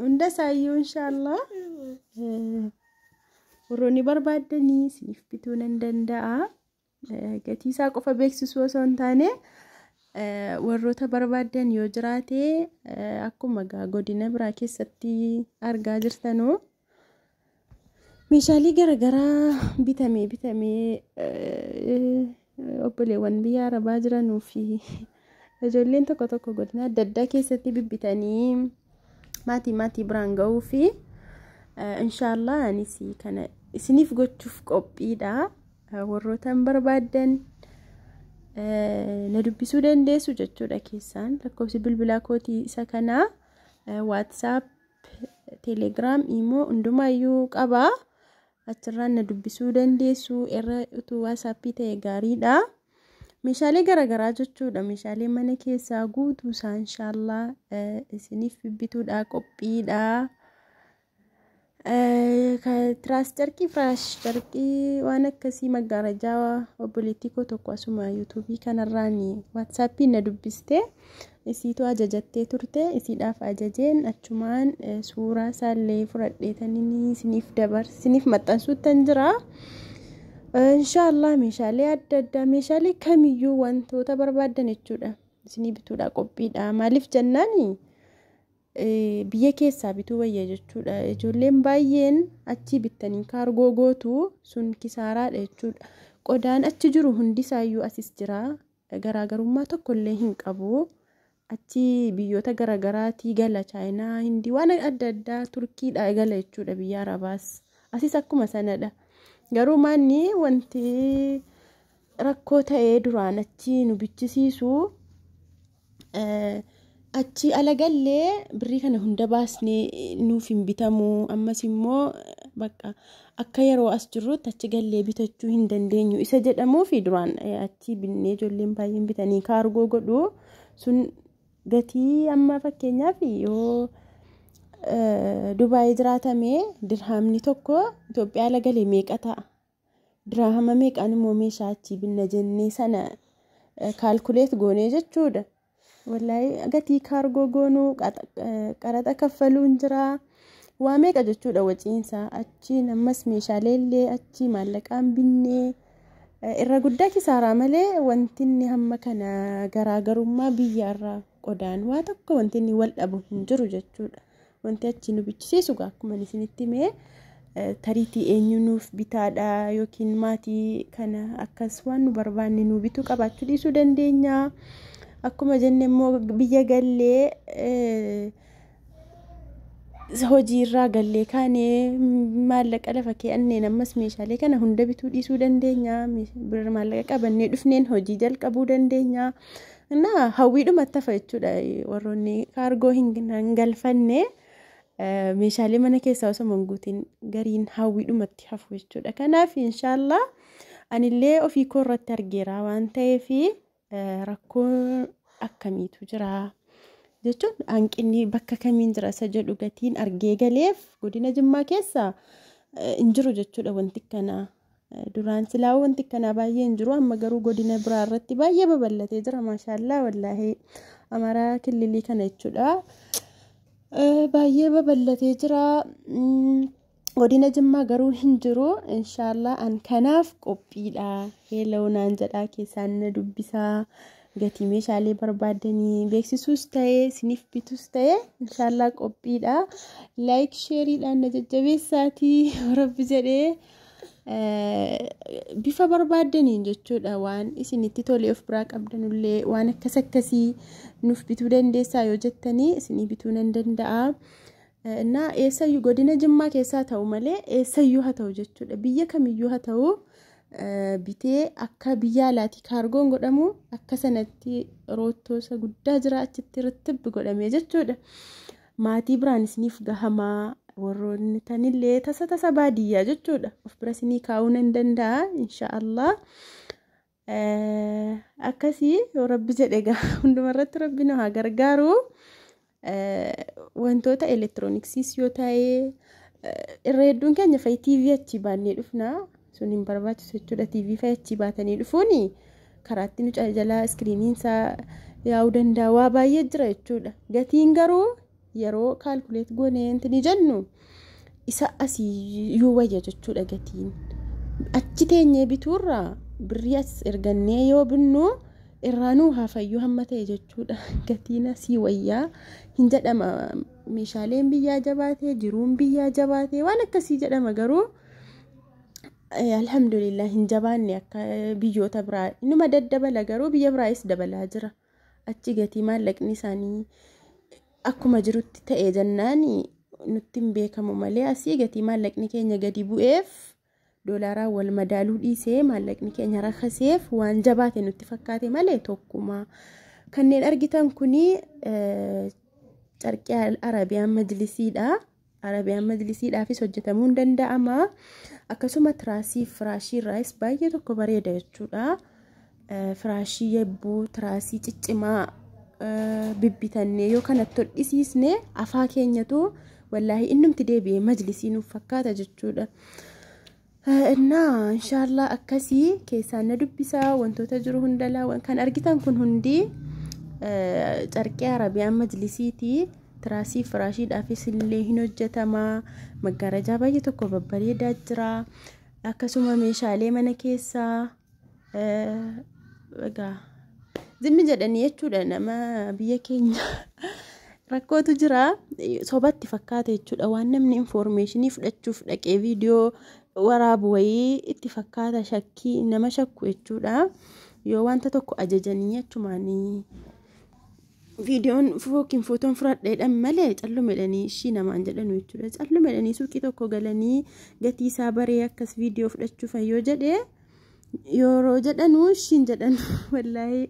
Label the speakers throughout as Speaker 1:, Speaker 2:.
Speaker 1: Hunda isaayyuu inshaallah warroonni barbaaddanii isiniif bituu nan danda'a. Gatii isaa qofa beeksisuu osoo hin taane warroota barbaaddan yoo jiraate akkuma godina biraa keessatti argaa jirtanuu. Meeshaalee garaagaraa bitamee bitamee obboleewwan biyya arabaa jiranuu fi ijoolleen tokko tokko godina adda addaa keessatti bibbitanii maatii maatii biraan ga'uu fi inshaallah anis kana isiniif gochuuf qophiidha warrootaan barbaaddan na dubbisuu dandeessu jechuudha keessaan lakkoofsi bilbilaa kootii isa kanaa waatsaap Telegram, Imo hundumaayyuu qaba. Achirraan na dubbisuu dandeessu. Irra utuu WhatsApp ta'e gaariidha. Meeshaalee garaagaraa jechuudha. Meeshaalee mana keessaa guutuu isaa inshaallah isiniif bituudha qophiidha. Tiraas carqii, firaash carqii waan akkasii maggaarajaa obboleettii koo tokko asuma yuutuubii kanarraan WhatsAppiin na dubbiste. Isiitu ajajattee turte, isiidhaaf ajajeen achumaan suuraa isaallee fudhadheetaniin isiniif dabarse, isiniif maxxansuuttan jira. Inshaallah meeshaalee adda addaa, meeshaalee kamiyyuu wantoota barbaaddan jechuudha. Isinii bituudha qophiidha. Maaliif jennaani biyya keessaa bituu wayya jechuudha. Ijoolleen baay'een achii bittanii kaargoo gootu sun kisaaraadha jechuudha. Qodaan achi jiru hundisaayyuu asis jira. garaagarummaa tokko illee hin qabu. Achi biyyoota garaagaraatii gala chaayinaa, hindii waan adda addaa turkiidhaa gala jechuudha biyya arabaas. Asis akkuma sanadha. Garuu maanni wanti rakkoo ta'ee duraan achi nu bichisiisu achi ala gallee birrii kana hunda baasnee nuuf hin bitamu ammas immoo bakka akka yeroo as jirrutti achi gallee bitachuu hin dandeenyu isa jedhamuu fi duraan achi binnee ijoolleen baay'een bitanii kaargoo godhu sun gatii amma fakkeenyaaf yoo dubaayii jiraatamee dirhaamni tokko Itoophiyaa ala galee meeqa ta'a Diraahama meeqaan immoo meeshaa achii binna jennee sana kaalkuleet goonee jechuudha. Wallahi gatii kaargoo goonuu qaraxa kaffaluun jira. Waa meeqa jechuudha waciinsaa achiin ammas meeshaalee illee achii maallaqaan binnee irra guddaa kisaaraa malee wantinni hamma kana garaagarummaa biyyaarraa qodaan waa tokko wantinni wal dhabu hin jiru jechuudha. Wanti achi nu bichisiisu gaa akkuma isinitti mee tariitii eenyu nuuf bitaadha yookiin maatii kana akkas waan nu barbaanne nu bituu qabaachuu dhiisuu dandeenya. Akkuma jenne immoo biyya gallee hojii irraa gallee kaanee maallaqa lafa kee'anneen ammas meeshaalee kana hunda bituu dhiisuu dandeenya. Birra maallaqa qabannee dhufneen hojii jalqabuu dandeenya. Innaa hawwiidhuma tafa jechuudha warroonni kaargoo hin galfanne meeshaalee mana keessaa osoo hin guutin gariin hawwiidhumatti hafu jechuudha. Kanaaf inshaallah anillee ofii koo irratti argeera waan ta'eef rakkoo akkamiitu jira jechuun hanqinni bakka kamiin jira isa jedhu gatiin argee galeef godina jimmaa keessa hin jiru jechuudha wanti kanaa. Duraan silaa wanti akkanaa baay'ee hin jiru amma garuu godina biraa irratti baay'ee babal'atee jira maashaallaa wallaahi amaraa killilii kana jechuudha. Baay'ee babal'atee jira. Godina Jimmaa garuu hin jiru inshaallah an kanaaf qophiidha. Heeloo naan jedhaa keessaan na dubbisaa. Gatii meeshaalee barbaaddanii beeksisuus ta'ee isiniif bituus ta'ee inshaallah qophiidha. Laayik sheeriidhaan na jajjabeessaatii rabbi jedhee. bifa barbaaddaniin jechuudha waan isinitti tolee of biraa qabdanullee waan akkas akkasii nuuf bituu dandeessaa yoo jettanii isinii bituu nan danda'a. Innaa eessayyuu godina jimmaa keessaa ta'u malee eessayyuu haa ta'u jechuudha biyya kamiyyuu haa ta'u bitee akka biyya alaati kaargoon godhamu akka sanatti roottoosa guddaa jira achitti rittibbi godhamee jechuudha. maatii biraan isiniif gahamaa warroonni tanillee tasa tasa baadiyyaa jechuudha of bira isinii kaa'uu nan danda'a insha allah akkasii yoo rabbi jedhe gaa hundumarratti rabbi nu haa gargaaru wantoota elektirooniksiis yoo ta'e irra hedduun keenya fa'i tiivii achi baannee dhufna sun hin barbaachisu jechuudha tv fa'ii achii baatanii dhufuuni karaatti nu jalaa iskiriiniin isaa yaa'uu danda'a waa baay'ee jira jechuudha gatiin garuu yeroo kaalkuleet goonee wanti ni jennu isa asii yoo wayya jechuudha gatiin achi teenyee bituurra birrii as ergannee yoo binnu irraa nuu hafayyuu hamma ta'e jechuudha gatiin asii wayyaa hin jedhama meeshaaleen biyyaa jabaatee jiruun biyyaa jabaatee waan akkasii jedhama garuu. alhamdulillah hin jabaanne akka biyyoota biraa inuma daddabala garuu biyya biraayis dabalaa jira achi gatii maallaqni isaanii akkuma jirutti ta'e jennaan nutti hin beekamu malee asii gatii maallaqni keenya gadi bu'eef doolaaraan wal madaaluu dhiisee maallaqni keenya rakkaseef waan jabaate nutti fakkaate malee tokkuma kanneen argitan kuni carqii arabiyaan majlisiidha. Arabiyaan majlisiidhaafis hojjetamuun danda'ama. Akkasuma tiraasii firaashii irraas baay'ee tokko bareeda jechuudha. Firaashii yabbuu tiraasii ciccimaa bibbitannee yoo kanatti hodhisiisne afaa keenyatu wallaahi innumti deebi'ee majlisii nuuf fakkaata jechuudha. Innaa inshaallah akkasii keessaan na dubbisaa wantoota jiru hundalaa wan- kan argitan kun hundi eh, carqee arabiyaan majlisiiti tiraasii firaashiidhaafis illee hin hojjetamaa maggaarajaa baay'ee tokko babbareedaa jira akkasuma meeshaalee mana keessaa Egaa zimmi jedhanii jechuudha nama biyya keenya rakkootu jira sobatti fakkaata jechuudha waan namni infoormeeshinii fudhachuuf dhaqee viidiyoo waraabu wayii itti fakkaata shakkii nama shakku jechuudha yoo wanta tokko ajajanii achumaanii viidiyoon yookiin footoon fudhadheedhan malee callumedhanii ishii namaan jedhanu jechuudha callumedhanii suuqii tokko galanii gatii isaa baree akkas viidiyoo fudhachuuf yoo jedhe yeroo jedhanu ishiin jedhan wallaahi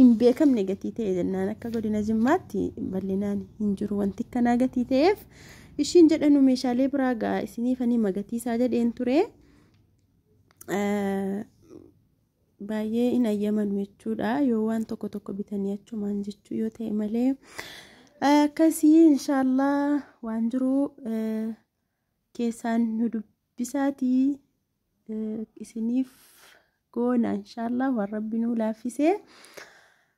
Speaker 1: hin beekamne gatii ta'e jennaan akka godina jimmaatti bal'inaan hin jiru wanti akkanaa gatii ta'eef ishiin jedhanu meeshaalee biraa gaa isiniif anima gatii isaa jedheen ture. baay'ee hin ayyamanu jechuudha yoo waan tokko tokko bitanii achumaan jechuu yoo ta'e malee akkasii inshaallah waan jiru keessaan nu dubbisaatii isiniif goona inshaallah waan rabbi nu laaffisee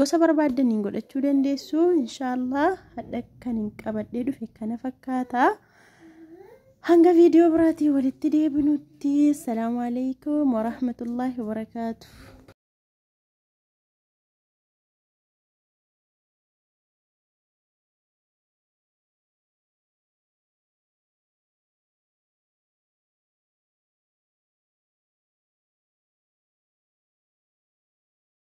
Speaker 1: Gosa barbaaddaniin godhachuu dandeessu. Inshaallah hadha kan hin qabadhee dhufe kana fakkaata. Hanga viidiyoo biraatii walitti deebinutti. Assalaamu alaikum warahmatullaahi wabarakaatuh.